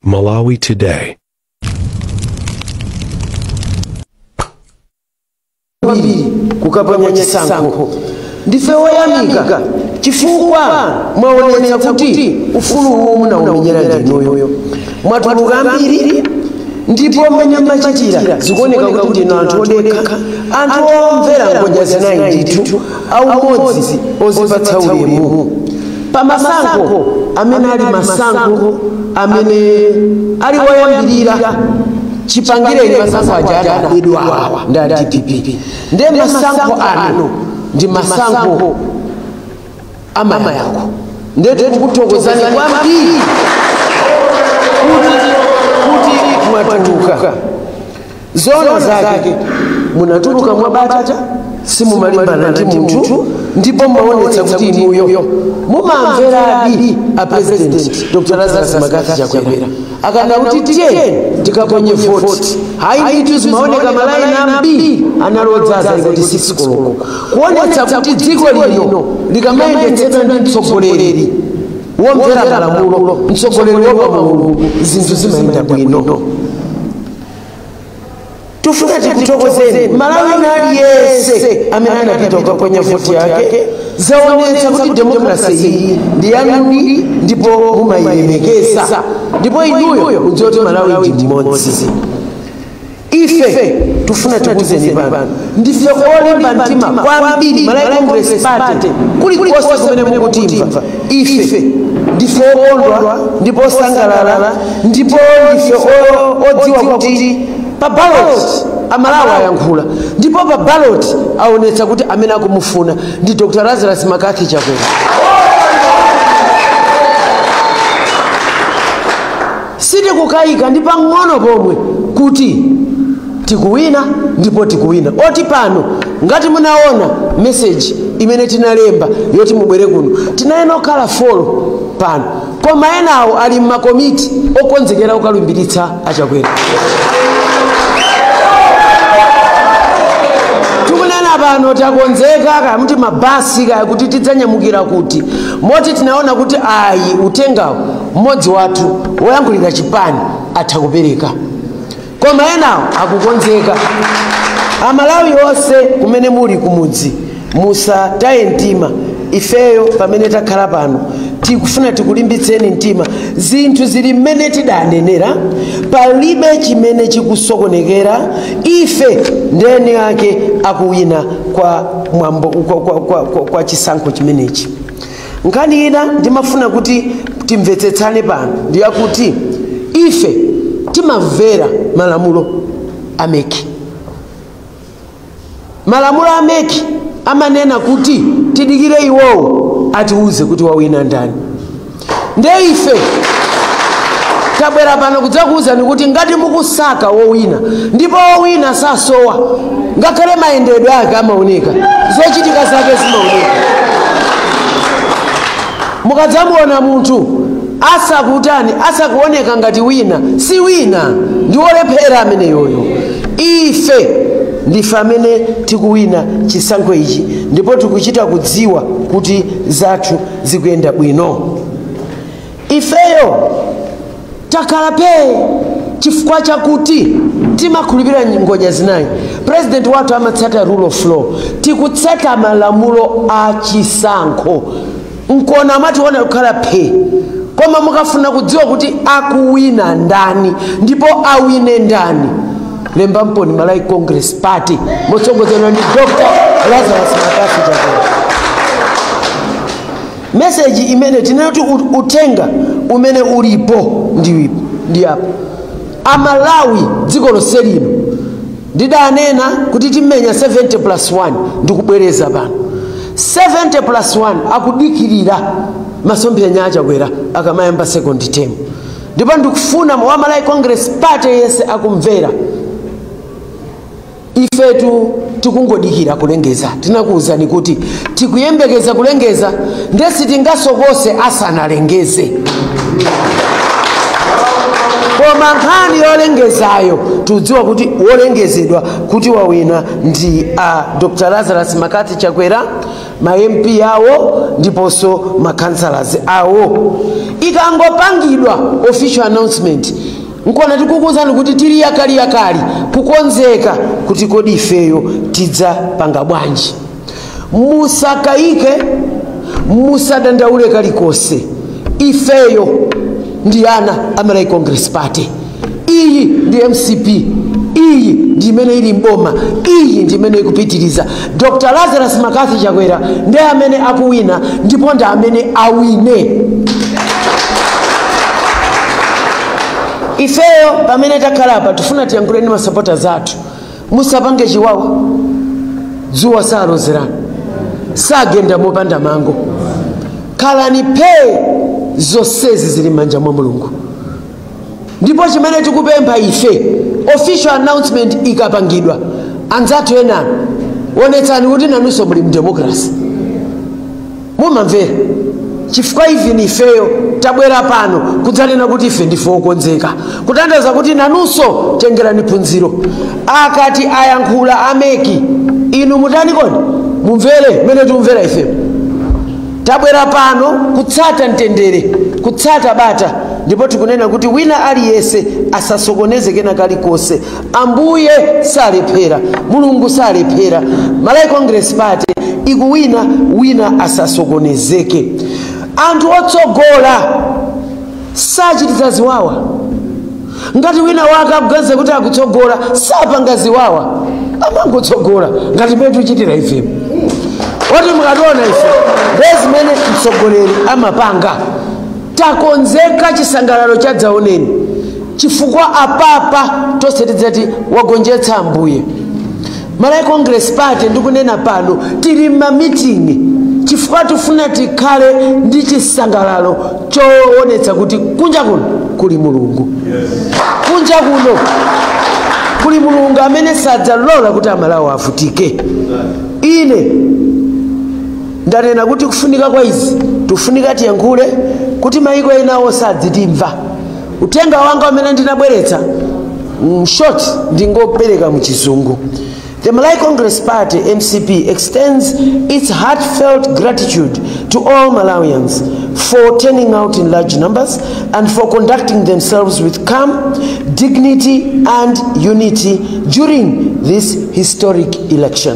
Malawi Today. kwambiri kukaponya chisankho ndife woyamika chifukwa mwaonetsa kuti ufulu uwu munaumenyera ndinuyo mwatuluka kwambiri ndipo mmene mwachitira zikuoneka kuti ndinu anthu odekha anthu omvera ngodya zinayi ndithu aumodzi ozipatsa ulemu pa masankho amene ali masankho amene ali woyambirira chipangire masankho aja adabedwawa ndi a dpp ndiye masankho ano ndi masankho amayankho ndiye tikukuthokozani kwambiri kuti mwatuluka zoona zake munatuluka mwa bata simumalimbana ndi munthu ndipo mwaonetsa kuti inuyo mumamveradi a president dr lazarus mccarthy chakwera akanena kuti tiye tikaponye voti ayi ndithu zimaoneka malaini ambiri anali odzaza isanati sikisi koloko kuonetsa kuti dziko lino likamayendetsedwa ndi mtsogoleri womvera malamulo mtsogoleri wa mulungu zinthu zimayenda bwino tufuna tikuthokozeni mmalawi wina aliyense amene anapita kukaponya voti yake zaonetsa kuti demokrasi iyi ndi yanudi ndipo mumayilemekeza ndipo inuyo mukudziwa kuti malawi ndi mmodzi ife tufuna tikuzeni pano ndife olimba mtima kwambiri malawi congress party kulikonse kumene mukutimva ife ndife okondwa ndipo osangalala ndipo ndife o- odziwa kuti pa baloti amalawi ayankhula ndipo pa baloti aonetsa kuti amene akumufuna ndi dr lazarus mccarthy chakwera Sitikukayika ndi pang'ono pomwe kuti tikuwina ndipo tikuwina. Moti pano ngati munaona message imene tinalemba yoti mubwere kuno, tinayenera kukhala four pano koma enawo ali m'ma komiti okonzekera kukalumbiritsa a Chakwera. Tikunena pano takonzeka kaya muti mabasi kaya kuti tidzanyamukira kuti, moti tinaona kuti ayi uthengawu mmodzi wathu woyankhulira chipani atha kupereka koma enawo akukonzeka amalawi onse kumene muli kumudzi musataye mtima ifeyo pamene takhala pano tikufuna tikulimbitseni mtima zinthu zili mmene tidanenera palibe chimene chikusokonekera ife ndi eni ake akuwina kwa mwambo kwa chisankho chimenechi nkhani ina ndimafuna kuti timvetsetsane pano ndi yakuti ife timamvera malamulo a meki malamulo a meki amanena kuti tidikire iwowo atiwuze kuti wawina ndani nde ife tabwera pano kudzakuwuzani kuti ngati mukusaka wowina ndipo wowina sasowa ngakhale mayendedwe ake amaoneka zochitika zake zimaoneka mukadzamuona munthu asakutani asakuoneka ngati wina si wina ndi wolephera ameneyoyo ife ndife amene tikuwina chisankho ichi ndipo tikuchita kudziwa kuti zathu zikuyenda bwino Ifeyo takhala phee chifukwa chakuti timakhulupirira ngodya zinayi. President wathu amatsata rule of law, tikutsata malamulo a chisankho. Nkona mwationa kukhala phee. Koma mukafuna kudziwa kuti akuwina ndani ndipo awine ndani, lembani pompano Malawi Congress Party motsogozedwa ndi Dr. Lazarus McCarthy Chakwera. meseji imene tinena kuti ut- uthenga umene ulipo ndi apa amalawi dziko lonse lino ndidanena kuti timenya 70 plus 1 ndikubwereza pano 70 plus 1 akudikirira masomphenya achakwera akamayamba second term ndipo ndikufuna wa malawi congress party yense akumvera ifetu tikungodikira kulengeza tinakuwuzani kuti tikuyembekeza kulengeza nde sitingasokose asanalengeze koma nkhani yolengezayo tikudziwa kuti wolengezedwa kuti wawina ndi a dr lazarus mccarthy chakwera ma mp awo ndiponso ma councillors awo ikangopangidwa official announcement nkona tikukuwuzani kuti tili yakaliyakali kukonzeka kuti kodi ifeyo tidzapanga bwanji musakayike musadandaule kalikonse ifeyo ndi ana a malawi congress party iyi ndi mcp iyi ndi imene ili mboma iyi ndi imene ikupitiriza Dr Lazarus McCarthy Chakwera ndi amene akuwina ndipo ndi amene awine. Ifeyo pamene takhala apa tufuna tiyankhuleni masapota athu, musapange chiwawa, dzuwa salozerana, sagenda mopanda mango, khalani phee, zonsezi zili m'manja mwa Mulungu. ndipo chimene tikupempha ife official announcement ikapangidwa anzathu ena onetsani kuti nanunso muli mdemokrasi mumamvera chifukwa even ifeyo tabwera pano kudzanena kuti ife ndife okonzeka kutanthauza kuti nanunso tengerani phunziro akati ayankhula a mec inu mutani kodi mumvere mmene tikumvera ifeyo tabwera pano kutsata mtendere kutsata bata ndipo tikunena kuti wina aliyense asasokoneze kena kalikonse ambuye salephera mulungu salephera malawi congress party ikuwina wina asasokonezeke anthu otsogola sachititsa ziwawa ngati wina wake akuganiza kuti akutsogola sapanga ziwawa amangotsogola ngati mmene tichitira ifepo oti mukationa ife ndiye zimene mtsogoleri amapanga takonzeka chisangalalo chadzaoneni chifukwa apapa tonse tidzati wagonjetsa ambuye malawi congress party ndikunena pano tili mmamiting'i chifukwa tifuna tikhale ndi chisangalalo choonetsa kuti kunja kuno kuli mulungu kunja kuno kuli mulungu amene sadzalola kuti amalawi avutike ine ndanena kuti kufunika kwa izi tikufunika tiyankhule kuti maiko enawo azitimva uthenga wanga umene ndinabweretsa mm, short ndingopereka mchizungu The Malawi Congress Party MCP extends its heartfelt gratitude to all Malawians for turning out in large numbers and for conducting themselves with calm, dignity and unity during this historic election.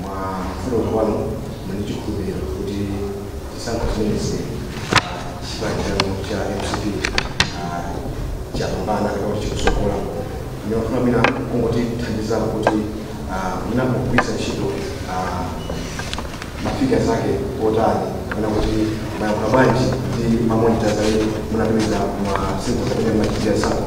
mwa kuunika kwanu muli ndi chikhulupiriro kuti chisankho chimenezi chipani chanu cha mcp ah, chapambana kapena kuti chikusokola ndimafuna mwina mungotithandizako kuti ah, mwina mukugwiritsa ntchito ah, mafigazi ake otani kapena kuti mwayankhula bwanji ndi mamonitazi amene munapeza ma siku zimene machitira sankho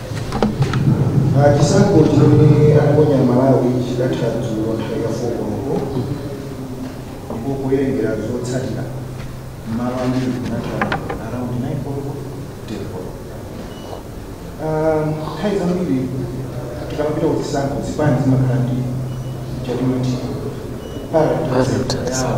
chisankho chimene anaponya amalawi chidatha dzulo nthawi ya 4 koloko ndipo kuwerengera zotsatira mmalo ambiri kunatha around 9 koloko 10 koloko Um, nthawi zambiri tikamapita kuzisankho zipani zimakhala ndi ma tally centre awo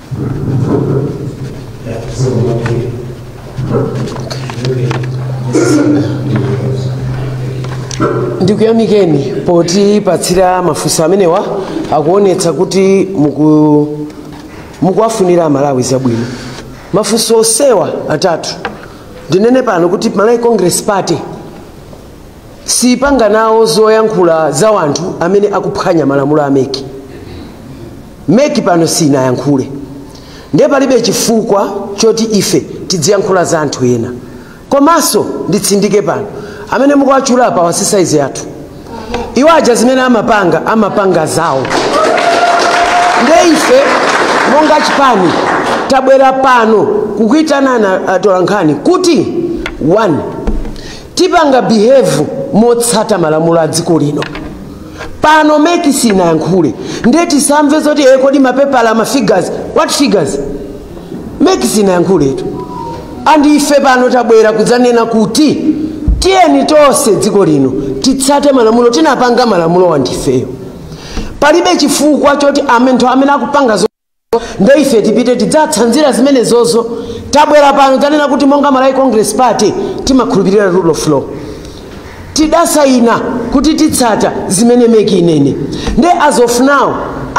ndikuyamikeni potipatsira mafunso amenewa akuonetsa kuti muku mukuwafunira amalawi zabwino mafunso onsewa atatu ndinene pano kuti malawi congress party sitipanga nawo zoyankhula za wanthu amene akuphwanya malamulo a meki meki pano sinayankhule ndiye palibe chifukwa choti ife tidziyankhula za anthu ena komanso nditsindike pano amene mukuwatchula apa wasisaizi yathu iwo aja zimene amapanga amapanga zawo nde ife monga chipani tabwera pano kukuitanani atolankhani kuti one tipanga behave motsata malamulo a dziko lino pano meki sinayankhule ndiye tisamve zoti e kodi mapepala ma figures what figures meki sinayankhuletu and ife pano tabwera kuzanena kuti tiyeni tonse dziko lino titsate malamulo tinapanga malamulo wa ndifeyo palibe chifukwa choti amene amene akupanga nde ife tipite tidzatsanzire zimenezozo tabwera pano dzanena kuti monga malawi congress party timakhulupirira rule of law tidasayina kuti titsata zimene meki inene nde as of now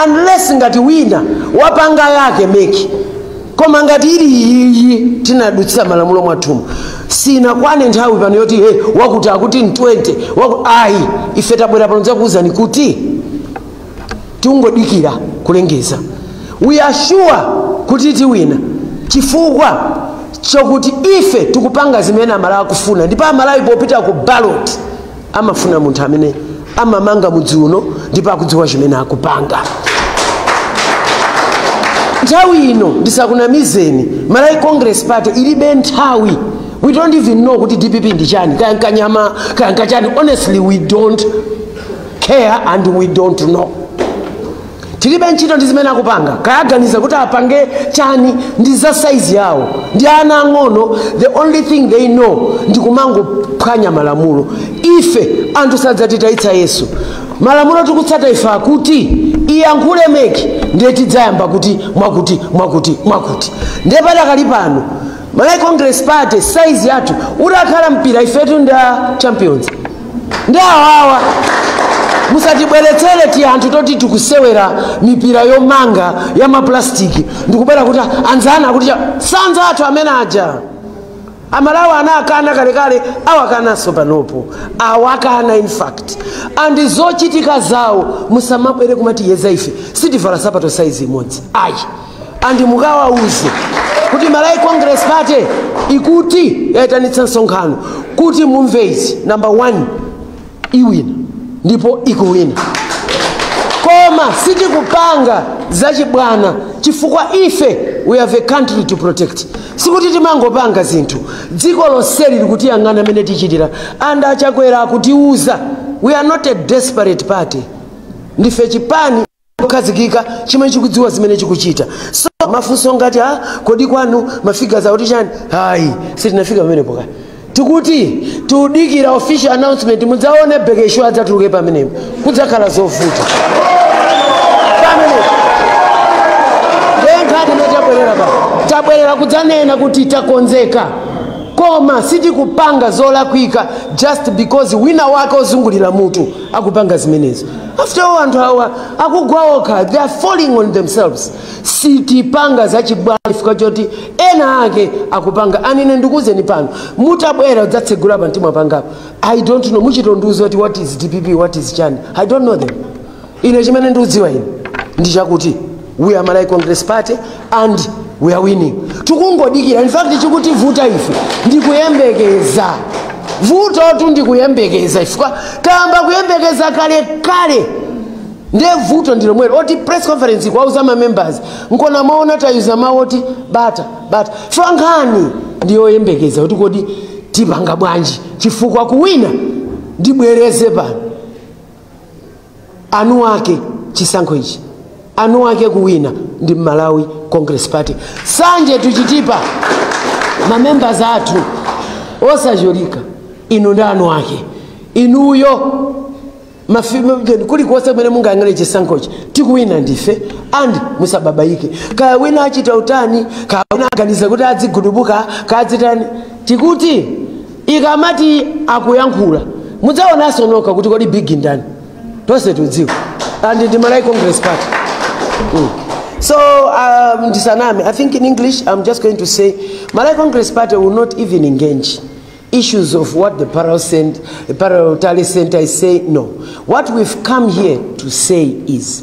unless ngati wina wapanga yake meki koma ngati ili iyiyi tinadutsira malamulo mwathumu sinakwane nthawi pano yoti he, wakuti akuti ndi 20 waku, ayi ife tabwera pano zakuwuzani kuti tikungodikira kulengeza we are sure kuti tiwina chifukwa chokuti ife tikupanga zimene amalawi akufuna ndipo amalawi popita ku ballot amafuna munthu amene amamanga mudzi uno ndipo akudziwa chimene akupanga nthawi ino ndisakunamizeni malawi congress party ilibe nthawi we don't even know kuti dpp ndi chani kaya nkanyama kaya nkachani honestly we don't care and we don't know tilibe ntchito ndi zimene akupanga kaya aganiza kuti apange chani ndi za saizi yawo ndi ana ang'ono the only thing they know ndi kumangophwanya malamulo ife anthu sadzatitayitsa yesu malamulo tikutsata ife akuti iyankhule meki ndiye tidzayamba kuti mwakuti mwakuti mwakuti ndiye padakali pano Malawi Congress Party size yathu utakhala mpira ifetu ndi ma champions ndi awawa musatibweretsere tianthu toti tikusewera mipira yomanga ya mapulastiki ndikubwera kuti anzana kuti cha- si anzathu amene aja amalawi anawakana kalekale awakanaso panopo awakana in fact and zochitika zawo musamabwere kumatiyeza ife sitivala sapato saizi imodzi ayi and mukawauze kuti malawi congress party ikuti yaitanitsa msonkhano kuti mumve izi number one iwina ndipo ikuwina koma sitikupanga zachibwana chifukwa ife we have a country to protect sikuti timangopanga zinthu dziko lonseli likutiyang'ana mmene tichitira and achakwera akutiuza we are not a desperate party ndife chipani chokhazikika chimene chikudziwa zimene chikuchita so mafunso ngati a kodi kwanu mafigures akuti chani ayi sitinafika pamenepo kale tikuti tikudikira official announcement mudzaone bekesho adzatuluke pamenepo kudzakhala zovuta pamenepo nkhani imene tabwerera pa tabwerera kudzanena kuti takonzeka koma sitikupanga zolakwika just because wina wake ozungulira mutu akupanga zimenezo after all anthu awa akugwa okha they are falling on themselves sitipanga zachibwana chifukwa choti ena ake akupanga and ine ndikuuzeni pano mutabwera kudzatsegula pa mtima pangapo i don't know muchitondiuza kuti what is dpp what is chani i don't know them ine chimene ndikudziwa ine ndi chakuti we are Malawi Congress Party and we are winning. Tikungodikira, in fact chikutivuta ife ndikuyembekeza vutotu ndikuyembekeza chifukwa tayamba kuyembekeza kale kale ndiye vuto ndi lomwelo oti press conference kuwauza ma members nkona mwaona tayuza mawu oti bata bata chifukwa nkhani ndiyoyembekeza kuti kodi tipanga bwanji chifukwa kuwina ndibwereze pano anu ake chisankho ichi anu ake kuwina ndi malawi congress party sanje tuchitipa mamembers athu osacholika inu ndi anu ake inuyo mafi- kulikonse kumene mungayang'ane chisankhochi tikuwina ndife and musababaike kaya wina achita utani kaya wina aganiza kuti adzigudubuka kaya adzitani tikuti ikamati akuyankhula mudzaonanso nokha kuti kodi big ndani tonse tidziwa and ndi malawi congress party mm. so um, ndisaname i think in english i'm just going to say malawi congress party will not even engage issues of what the parallel, cent- parallel tally center is saying no what we've come here to say is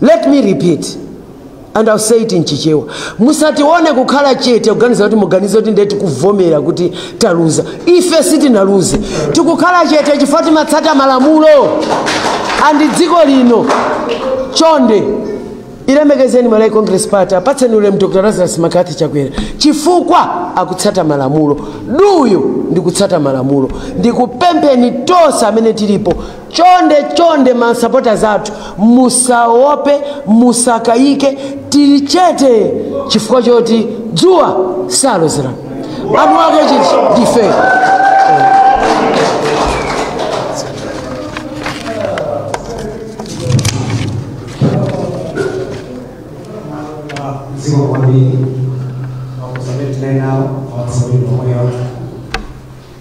Let me repeat and I'll say it in Chichewa. Musatione kukhala chete kuganiza kuti muganize kuti ndiye tikuvomera kuti taluza. Ife sitinaluze. Tikukhala chete chifukwa timatsata malamulo a m'dziko lino. Chonde ilemekezeni Malawi Congress Party apatseni ulemu Dr. Lazarus McCarthy Chakwera chifukwa akutsata malamulo. Duyu ndikutsata malamulo. Ndikupempheni tonse amene tilipo chonde chonde masupporters athu musaope musakayike tili chete chifukwa choti dzuwa salozera anu ake chiti ndife zikomo kwambiri mafunso amene tinali nawo makusamene omwewa